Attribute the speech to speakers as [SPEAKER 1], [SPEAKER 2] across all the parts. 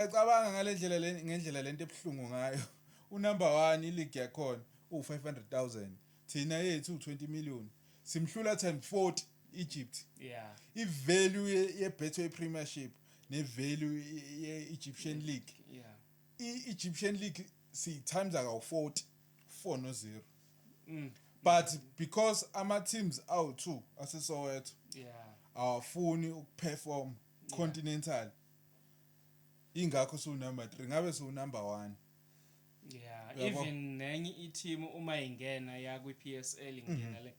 [SPEAKER 1] Uyacabanga ngale ndlela le ngendlela lento ebuhlungu ngayo unumber one iligi yakhona uwu-five hundred thousand thina yethu uwu-twenty million simhlula time forty egypt yeah.
[SPEAKER 2] ivalue
[SPEAKER 1] ye-betway premiership nevalue ye-egyptian league yeah.
[SPEAKER 2] i-egyptian
[SPEAKER 1] league siyi-times akawu-forty four no-zero
[SPEAKER 2] mm. but because
[SPEAKER 1] ama-teams awu-two asesoweto yeah. awafuni ukuperform yeah. continental ingakho su number 3 ngabe su number 1 yeah Yabo.
[SPEAKER 2] even nenye i-team uma ingena ya kwi-PSL ingena mhm. le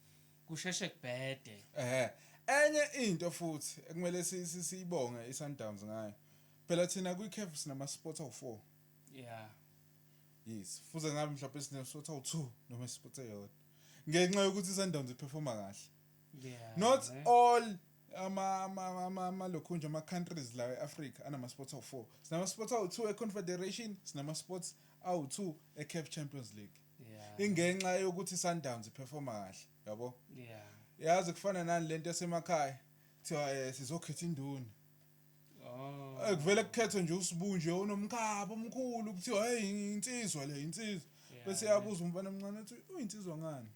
[SPEAKER 2] kusheshe kubhede eh enye
[SPEAKER 1] into futhi ekumele siyibonge iSundowns ngayo phela thina kwi-CAF sinama sports awu4
[SPEAKER 2] yeah yes
[SPEAKER 1] fuze ngabe mhlawumbe sine sports awu2 noma sports eyodwa ngenxa yokuthi iSundowns iperforma kahle yeah not
[SPEAKER 2] all
[SPEAKER 1] Ama, ama, ama, ama lokhunja, ama countries la e-Africa anama sports awu-4. Sinama sports awu-2 e-Confederation, sinama sports awu-2 e-CAF Champions League. Yeah. Ingenxa
[SPEAKER 2] yokuthi
[SPEAKER 1] Sundowns iperforma kahle, yabo? Yeah.
[SPEAKER 2] Yazi kufana
[SPEAKER 1] nani lento esemakhaya. Kuthiwa eh sizokhetha induna.
[SPEAKER 2] Oh. Eh kuvele kukhethwe
[SPEAKER 1] nje usibu nje onomkhaba omkhulu kuthiwa hey insizwa le insizwa. Yeah, Bese yeah. yabuza umfana omncane ukuthi uyinsizwa ngani?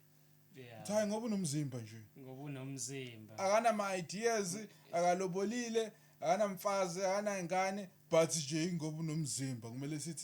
[SPEAKER 1] Yeah. Cha
[SPEAKER 2] ngoba unomzimba
[SPEAKER 1] nje. Ngoba unomzimba.
[SPEAKER 2] Akanama ideas,
[SPEAKER 1] akalobolile, akanamfazi, akanangane but nje ngoba unomzimba kumele sithi